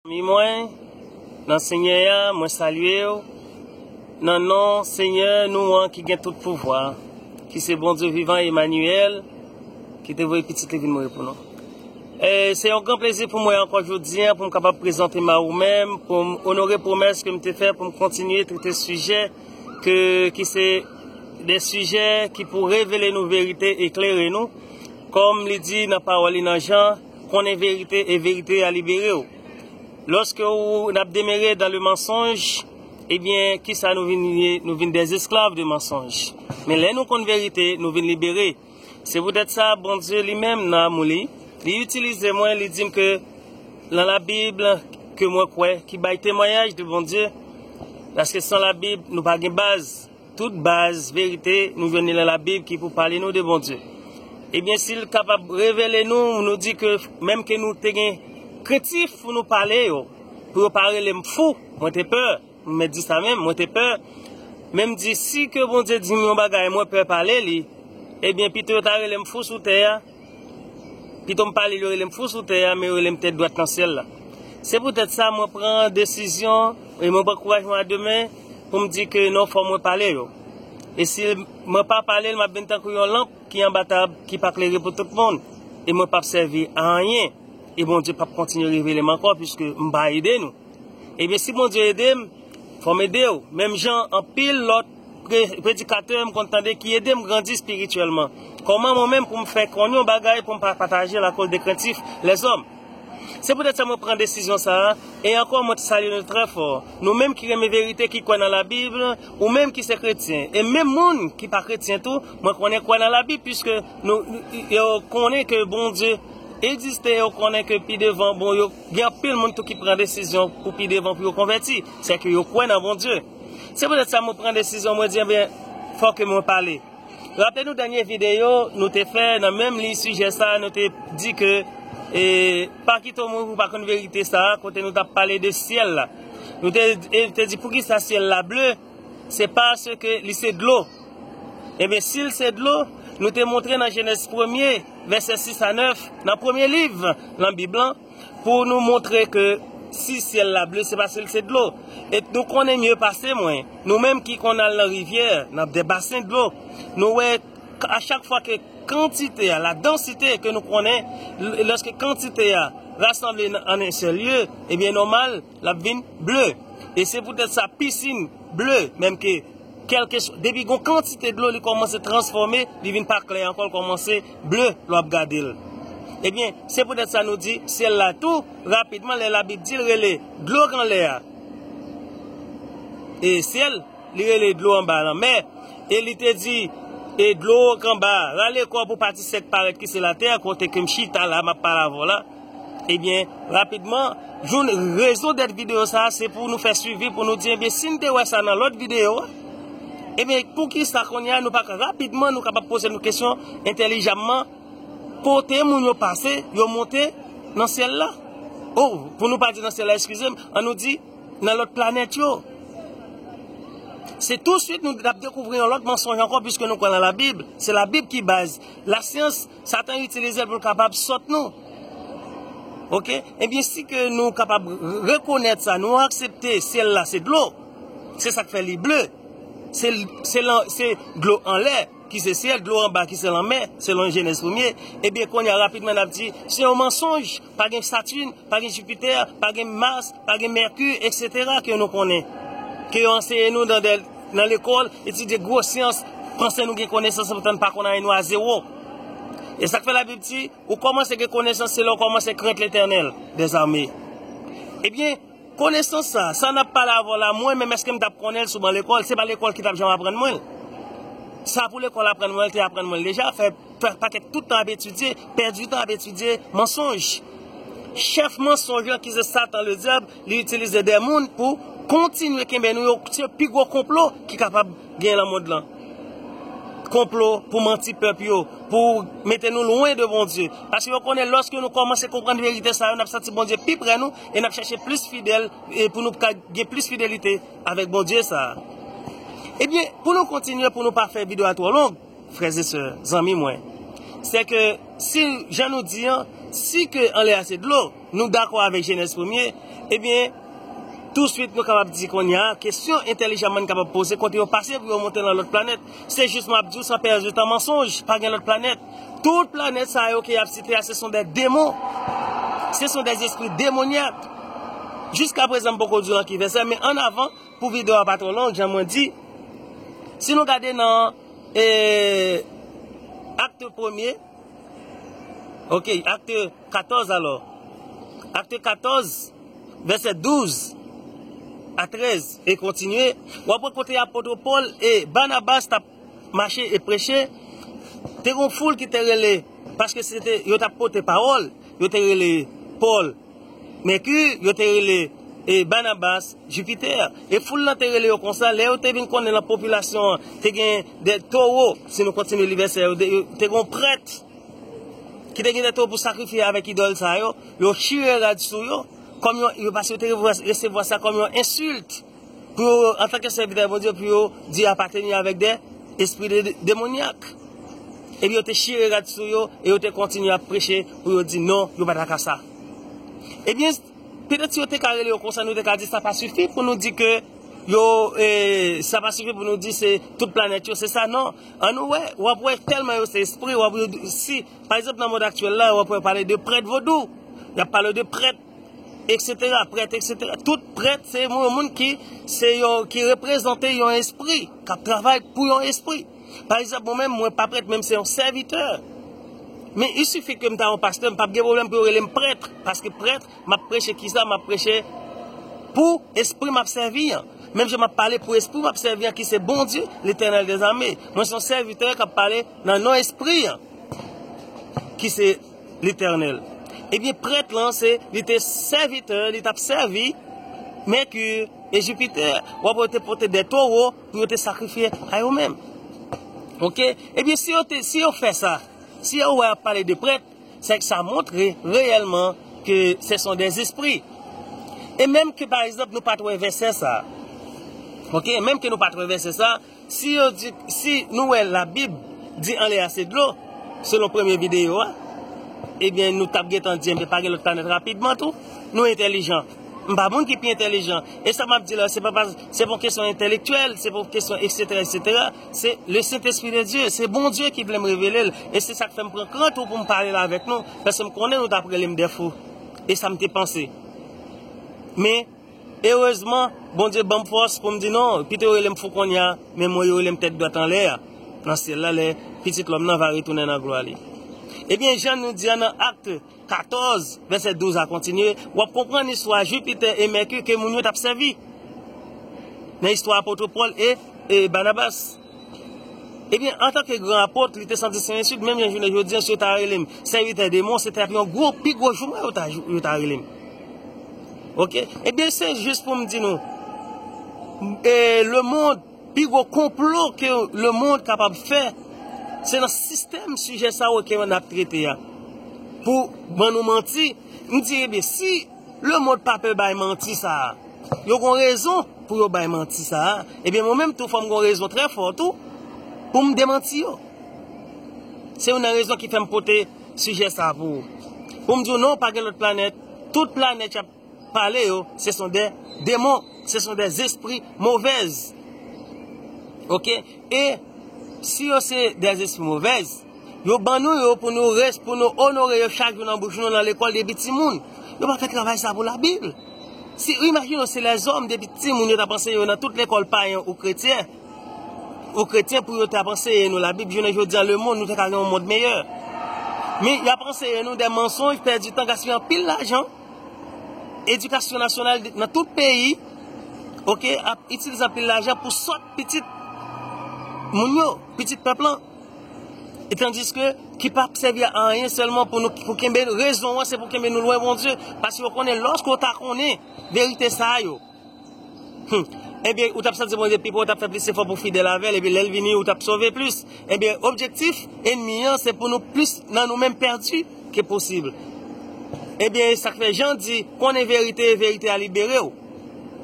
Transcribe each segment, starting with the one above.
Zanmi mwen nan Senyè a, mwen salye w nan non Senyè nou an ki gen tout pouvwa, ki se Bondye vivan Emanyèl, ki te voye Pitit li vin mouri pou nou. E se yon gran plezi pou mwen ankò jodi a pou m kapab prezante m a ou menm pou m onore pwomès ke m te fè pou m kontinye trete sijè ke ki se de sijè ki pou revele nou verite, eklere nou, kòm li di nan pawòl li nan Jan. Konnen verite e verite a libere w. Loske ou nap demere dan le mansonj, ebyen kisa nou vin ye, nou vin des esklav de mansonj. Men lè nou konn verite, nou vin libere. Se poutèt sa Bondye li menm nan amou li, li itilize mwen, li dim ke lan la bib ke mwen kwè ki bay temwayaj de Bondye, paske san la bib nou pa gen baz. Tout baz verite nou jwenn li nan la bib ki pou pale nou de Bondye. Ebyen sil kapab revele nou nou di ke menm ke nou te gen krentif pou nou pale yo pou yo pa relem fou mwen te pè m mèt di sa menm mwen te pè menm di si ke Bondye dim yon bagay mwen pè pale li ebyen pito yo ta relem fou sou tè a. Pito m pale l yo rele m fou sou tè a men yo rele m tèt dwat nan syèl la. Se poutèt sa mwen pran desizyon e mwen pran kouraj mwen a de men pou m di ke non fò mwen pale yo. E si mwen pa pale l m ap vin tankou yon lanp ki anba tab ki pa klere pou tout moun e mwen p ap sèvi a anyen e Bondye p ap kontinye revele m ankò puiske m pa ede nou. Ebyen si Bondye ede m fò m ede w menm jan anpil lòt predikatè m konn tande ki ede m grandi espirityèlman? Kòman mwen menm pou m fè konn yon bagay pou m pa pataje l akoz de krentif lèzòm? Se poutèt sa mwen pran desizyon sa a, e ankò mwen salye nou trè fò, nou menm ki renmen verite, ki kwè nan Labib, ou menm ki se kretyen, e menm moun ki pa kretyen tou, mwen konnen kwè nan Labib piske yo konnen ke Bondye egziste e yo konnen ke pi devan, bon, gen anpil moun tou ki pran desizyon pou pi devan pou yo konvèti, sèke yo kwè nan Bondye. Se poutèt sa mwen pran desizyon mwen di ebyen fò ke mwen pale. Raple nou dènye videyo nou te fè nan menm liy sijè sa nou te di ke e pa kite w mouri pou w pa konn verite sa kote nou t ap pale de syèl la. Nou te di poukisa syèl la ble se paske li se dlo. Ebyen si l se dlo nou te montre nan jenèz premye vèsè 6 a 9 nan premye liv nan bib lan. pou nou montre ke si syèl la ble se paske l se dlo. Et nou konnen mye pase mwen, nou menm ki konn al nan rivyè, nan de basen dlo, nou wè a chak fwa ke kantite a, la densite ke nou konnen, loske kantite a rasanble an en sèl lye, ebyen nòmal, L ap vin ble. E se poutèt sa pisin ble menm ke kèlke swa depi gon kantite dlo li kòmanse transfòme li vin pa klè ankò l kòmanse ble lè w ap gade l. Ebyen se poutèt sa nou di syèl la tou rapidman lè labib di l rele dlo kanlè a e syèl li rele dlo anba lanmè e li te di e dlo kanba a rale kò pou pati sèk parèt ki se latè kote ke m chita la m ap pale avè w la. Ebyen, rapidman, Jun, rezon dèt videyo sa a se pou nou fè swivi pou nou di ebyen si n te wè sa nan lòt videyo a, ebyen poukisa kounye a nou pa ka rapidman nou kapab poze nou kesyon entèlijamman kote moun yo pase yo monte nan syèl la? O, pou nou pa di nan syèl la eskize m, an nou di nan lòt planèt yo. Se tousuit nou ap dekouvri yon lòt mansonj ankò piske nou kwè nan Labib, se Labib ki baz lasyans. Satan itilize l pou l kapab sot nou. Ok, ebyen si ke nou kapab rekonèt sa, nou aksepte syèl la se dlo, se sak fè li ble, se dlo anlè ki se syèl, dlo anba ki se lanmè, selon jenèz premye, ebyen kounye a rapidman nap di se yon mansonj, pa gen satine, Pa gen Jupiter, pa gen Mars, pa gen Mercure etc ke nou konnen. Ke yo anseye nou nan lekol, etidye gwo syans, panse nou gen konesans se poutan nou pa konn anyen nou a zewo. E sak fè la bib di, ou komanse gen konesans se lè ou komanse krent Letènèl des armee. Ebyen, konesans sa, sa nap pale avèw la mwen menm eske m tap konnenl sou ban lekol, se pa lekol ki tap janm aprann mwenl. Sa pou lekol aprann mwen te aprann mwenl deja. fè pakèt tout tan ap etidye, pèdi tan ap etidye mansonj. Chèf mansonj lan ki se Satan le Dyab, li itilize de moun pou kontinye kenbe nou yo, se pi gwo konplo ki kapab gen lan mond lan. Konplo pou manti pèp yo, pou mete nou lwen de Bondye. Paske yo konnen lòske nou kòmanse konprann verite sa yo, n ap santi Bondye pi pre nou e n ap chèche plis fidèl e pou nou ka gen plis fidelite avèk Bondye sa a. Ebyen, pou nou kontinye, pou nou pa fè videyo a twò long. Frères et sœurs, zanmi mwen, sè ke si jan nou di an, si ke anlè a se dlo, nou dakò avèk Genèse premye, ebyen, tou swit nou kapab di kounye a, kesyon entèlijanman n kapab poze, kote yo pase pou yo monte lan lòt planèt? Se jis map di w san pèdi tan mansonj, pa gen lòt planèt. Tout planèt sa yo ke yap site a se son dè demon, se son dè zespri demonyak. Jiska prezan m poko di w lan ki vèsè, men an avan, Pou video a pa tro long jan mwen di Si nou gade nan Acte premye Ok acte 14 alò Acte 14 Vese 12 A 13 E kontinye Wap wè kote apot Paul e Barnabas tap mache e preche, te gon foul ki te rele, paske se te, yo tap pote pawòl, yo te rele Pòl, Mèki, yo te rele e Banabas, Jipitè. E foul lan te rele yo konsa, lè yo te vin konnen lan popilasyon an, te gen de towo, si nou kontinye li vèsè yo, te gon prèt, ki te gen de towo pou sakrifye avèk idòl sa yo, yo chire rad sou yo, kòm yon, yo paske yo te resevwa sa kòm yon ensilt. pou yo, antanke sèvitè Bondye, pou yo di apateni avèk de espri demonyak. Epi yo te chire rad sou yo, e yo te kontinye ap preche pou yo di non, yo pa ta ka sa. Ebyen, petèt si yo te ka rele yo konsa, nou te ka di sa pa sifi pou nou di ke yo, e, sa pa sifi pou nou di se tout planèt yo se sa, non. An nou wè, w ap wè tèlman yo se espri, w ap wè, si, pa egzanp nan mond aktyèl la, w ap wè yo pale de prèt vodou, y ap pale de prèt. Eksetera, prèt, eksetera. Tout prèt se yon moun ki se yon ki reprezante yon espri, kap travay pou yon espri. Pa egzanp, mwen menm mwen pa prèt, menm se yon sèvitè. Men isifi ke m ta yon pastè, m pap gen pwoblèm pou yo rele m prèt, paske prèt, m ap preche ki sa, m ap preche pou espri m ap sèvi an. Menm jan m ap pale pou espri m ap sèvi an ki se Bondye, Letènèl dezame. Mwen se yon sèvitè k ap pale nan non espri an ki se. Letènèl. Ebyen prèt lan se li te sèvitè, li t ap sèvi Mèki e Jipitè. Ou ap wè yo te pote de towo pou yo te sakrifye a yo menm. Ok, ebyen si yo te, si yo fè sa, si yo wè y ap pale de prèt, se k sa montre reyèlman ke se son de zespri. E menm ke pa egzanp nou pa t wè vèsè sa. Ok, menm ke nou pa t wè vèsè sa. Si yo di, si nou wè la bib di anlè a se dlo, selon premye videyo a, ebyen nou tap gentan di ebyen pa gen lòt planèt rapidman tou, nou entèlijan, m pa moun ki pi entèlijan, e sa map di la se pa pas, se pa yon kesyon entèlektyèl, se pa yon kesyon eksetera eksetera, se le sentespri de Dye, se Bondye ki vle m revele l, e se sak fè m pran kran tou pou m pale la avèk nou, paske m konnen nou tap rele m dèfou, e sa m te panse. Men. Erezman, Bondye ban m fòs pou m di non, pito yo rele m fou kounye a, men mwen yo rele m tèt dwat anlè a nan syèl la lè Pitit lòm nan va retounen nan glwa li. Ebyen, jan nou di a nan Acte 14, vèsè 12 a kontinye, w ap konprann istwa Jupiter et Mercure ke moun yo t ap sèvi nan istwa apotre Paul et Barnabas. Ebyen, antanke gran apot, li te santi Sen Espril, menm jan jounen jodi an, si yo ta rele m sèvitè de mwen, se te ap yon gwo, pi gwo joumwen yo ta rele m. Ok? Ebyen, se jis pou m di nou, e, lemonn, pi gwo konplo ke lemonn kapab fè, se nan sistèm sijè sa yo ke yo nan ap trete a, pou ban nou manti, m di, ebyen, si. Le monde pa pè bay manti sa a. Yo gon rezon pou yo bay manti sa a. Ebyen mwen menm tou fò m gon rezon trè fò tou pou m demanti yo. Se yon nan rezon ki fè m pote sijè sa a pou ou. Pou m di ou non pa gen lòt planèt. Tout planèt y ap pale yo se son de demon. Se son de zespri movèz. Ok. E si yo se de zespri movèz. Yo ban nou yo pou nou res, pou nou onore yo chak jou nan bouch nou, nan lekòl depi timoun. Yo pa fè travay sa pou labib. Si ou imajine w se lèzòm depi timoun yo t ap anseye yo nan tout lekòl payen ou kretyen, ou kretyen pou yo t ap anseye nou labib jounen jodi a lemonn nou te ka gen yon mond meyè. Men y ap anseye nou de mansonj, pèdi tan, gaspiye anpil lajan. Edikasyon nasyonal nan tout peyi ok ap itilize anpil lajan pou sòt pitit moun yo, pitit pèp lan. E tandiske ki pa sèvi a anyen sèlman pou nou pou kenbe rezon an se pou kenbe nou lwen Bondye paske yo konnen lòske ou ta konnen verite sa yo enben ou t ap sèvi Bondye pi pre ou t ap fè plis efò pou w fidèl avè l epi lè l vini ou t ap sove plis enben objektif enmi an se pou nou plis nan nou menm pèdi ke posib enben e sa k fè Jan di konnen verite e verite a libere w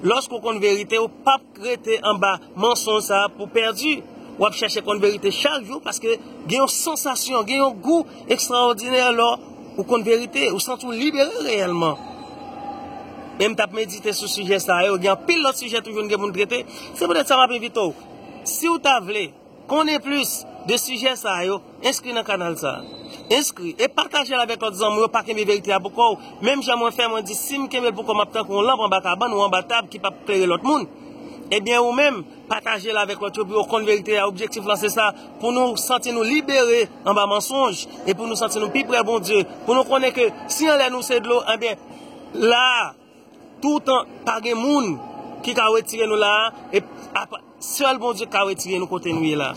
lòske ou konn verite ou p ap Rete anba mansonj sa pou pèdi. W ap chèche konn verite chak jou paske gen yon sansasyon, gen yon gou ekstraòdinè lò ou konn verite. Ou santi w libere reyèlman. E m t ap medite sou sijè sa yo. Gen anpil lòt sijè toujou n gen pou n trete. Se poutèt sa m ap envite w, si w ta vle. Konnen plis de sijè sa yo, enskri nan kanal sa. Enskri, e patajel avèk lòt zanmiw yo pa kenbe verite a pou kòw, menm jan mwen fè mwen di sim kenbel pou kòm map tankou yon lanp anba kabann ou anba tab ki pap klere lòt moun, ebyen ou menm patajel avèk lòt yo pou yo konn verite a objektif lan se sa pou nou santi nou libere anba mansonj e pou nou santi nou pi prè Bondye pou nou konnen ke si anlè nou se dlo ebyen la. Toutan pa gen moun ki ka retire nou la a, e apa sèl Bondye ka retire nou kote nou ye la.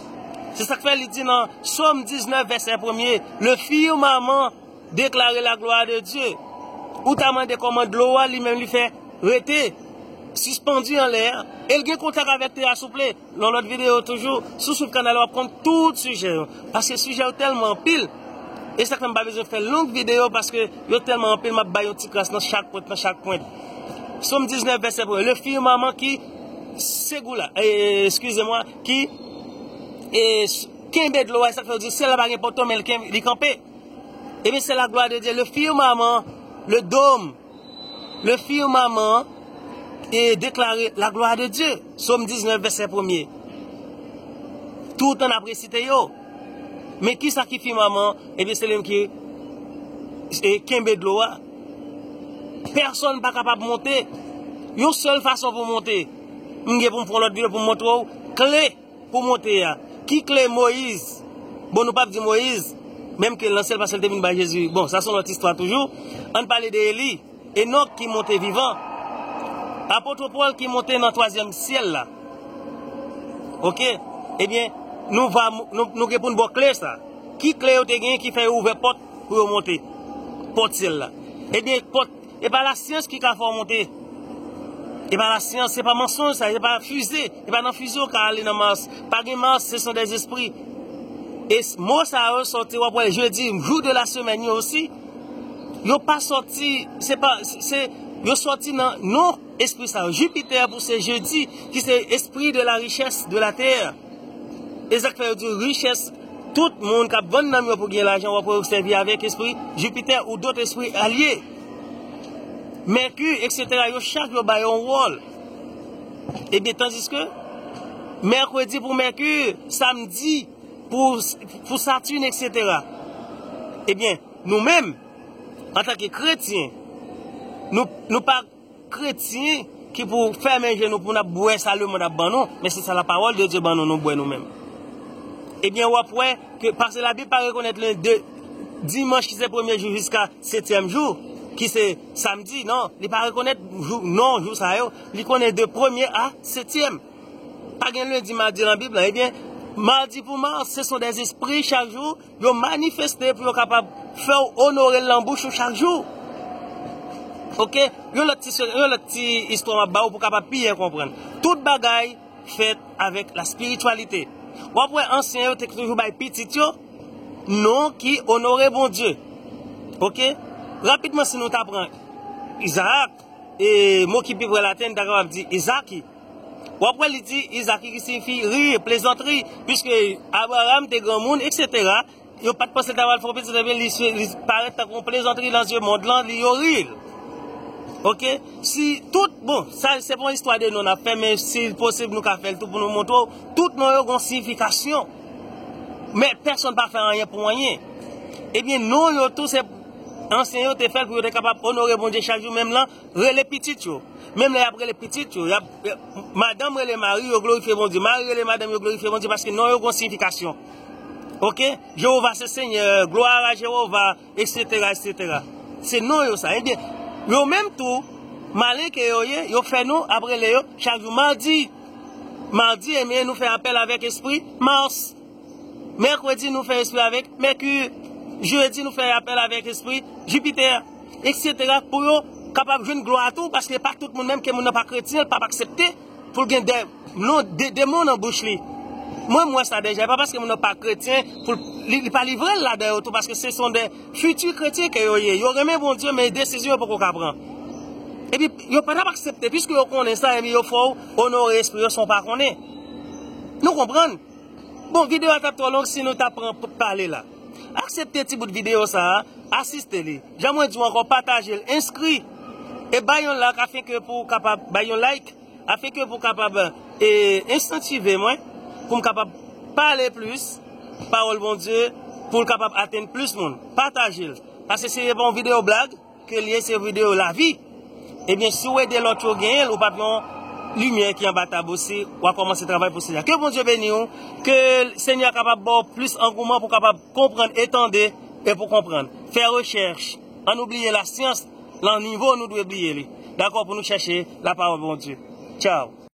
Se sa k fè li di nan Sòm 19 vèsè premye, Le firmaman deklare la glwa de Dye. Ou ta mande kòman dlo a li menm li fè rete sispandi anlè a, e l gen kontak avèk tè a souple? Yon lòt videyo toujou, si w swiv kanal la w ap konn tout sijè yo, paske sijè yo tèlman anpil, e sa k fè m pa bezwen fè long videyo paske yo tèlman anpil m ap bay yon ti kras nan chak pwent nan chak pwent. Som 19 vèsè premye, le firmament ki segoula, eskize mwa, ki kenbe dlo a, e sa k fè yo di syèl la pa gen poteau men li kanpe, ebyen se laglwa de Dye, le firmament, le dome. Le firmament e deklare la glwa de Dye. Som 19 vèsè premye. Toutan nap resite yo. Men ki sa ki firmament? Ebyen eh se lèm ki e kenbe dlo a. Pèsonn pa kapab monte. Yon sèl fason pou monte. M gen pou m pran lòt videyo pou m montre w kle. Pou monte a. Ki kle Moise? Bon nou pap di Moise, menm ke lan sèl pasyon li te vin bay Jezi. Bon, sa son lòt istwa toujou. Ann pale de Eli, Enòk ki monte vivan. Apotre Paul ki monte nan twazyèm syèl la. Ok. Ebyen, nou va nou gen pou n bo kle sa. Ki kle yo te gen ki fè yo ouvè pòt pou yo monte? Pòt syèl la. Ebyen, pòt E pa la syans ki ka fè w monte. E pa la syans, se pa mansonj sa, se pa fize. E pa nan fize w ka ale nan Mars. Pa gen Mars, se son des espri. E mo sa yo sòti, w ap wè jedi, jou de la semèn yo osi, yo pa sòti, se pa, se, yo sòti nan non espri sa yo. Jupiter pou se jedi, ki se espri de la richès de la tè. Esak fè yo diw richès tout moun kap vann nanm yo pou gen lajan wap wè yo sèvi avèk espri Jupiter ou dot espri alye. Mercure etc yo chak yo bay yon wòl. Ebyen tandiske Mercredi pou Mercure, Samedi pou Saturne etc. Ebyen nou menm antanke kretyen nou pa kretyen ki pou fèmen je nou pou nap bwè sa lemond ap ban nou men se sa la pawòl de Dye ban nou nou bwè nou menm ebyen wap wè ke pase la bib pa rekonèt len de dimanch ki se premye jou jiska setyèm jou ki se samdi nan li pa rekonèt jou non jou sa yo li konnen de premye a setyèm pa gen lendi madi nan bib la ebyen madi pou mars se son de zespri chak jou. Yo manifeste pou yo kapab fè w onore l nan bouch ou chak jou. Ok, yon lòt ti se, yon lòt ti istwa m ap ba ou pou kapab pi byen konprann. Tout bagay fèt avèk la spirityalite. W ap wè ansyen yo te toujou bay pitit yo non ki onore Bondye. Ok, rapidman si nou ta pran Izaak, e mo ki pi pre laten n ta kapab di Izaki. W ap wè li di Izaki ki siyifi rir, plezantri, piske Abraram te granmoun, eksetera, yo pa t panse l ta pral fè yon pitit ebyen li parèt tankou yon plezantri nan zye mond lan, li yo ri l. Ok, si tout, bon, sa se pa yon istwa de non n ap fè men si l posib nou ka fè l tou pou nou montre w, tout non yo gen yon siyifikasyon. Men pèsonn pa fè anyen pou anyen. Ebyen non yo tou se ansyen yo te fè l pou yo te kapab onore Bondye chak jou menm lan. Rele pitit yo. Menm lè y ap rele pitit yo, madanm rele mari yo glorifye Bondye, mari rele madanm yo glorifye Bondye paske non yo gen yon siyifikasyon. Oke, Jewova se Senyè, glwa a Jewova, eksetera, eksetera. Se non yo sa. Ebyen, yo menm tou, malen ke yo ye, yo fè nou ap rele yo chak jou madi. Madi, ebyen, nou fè apèl avèk espri Mars. Mèkredi nou fè espri avèk Mèku. Jedi nou fè apèl avèk espri Jipitè. Eksetera pou yo kapab jwenn glwa a tou paske pa tout moun menm ke moun nan pa kretyen l pap aksepte pou l gen de non de demon nan bouch li. Mwen m wè sa dèja e pa paske moun nan pa kretyen pou l li pa livre l ladan yo tou paske se son de fiti kretyen ke yo ye. Yo renmen Bondye men desizyon yo poko ka pran. Epi yo pa tap aksepte piske yo konnen sa ebyen yo fè w onore espri yo san w pa konnen. Nou konprann? Bon video a tap tro long si nou ta pran pou pale la. Aksepte ti bout video sa a, asiste li. Jan mwen di w anko pataje l, enskri e bay yon lak afin ke pou w kapab bay yon like afin ke pou w kapab e enstantive mwen pou m kapab pale plis pawol Bondye pou l kapab atenn plis moun. Pataje l. Pase se pa yon video blag. Kel ye se video lavi. Ebyen si ou ede lot yo genyenl ou pap yon limyè ki anba tab osi wa komanse travay pou senyè. Ke Bondye beni ou, ke senyè a kapab baw plis angouman pou kapab konprann e tande e pou konprann. Fè rechèch, an nou bliye la syans lan nivo nou dwe bliye li. Dakò pou nou chèche la pawol Bondye. Tchao.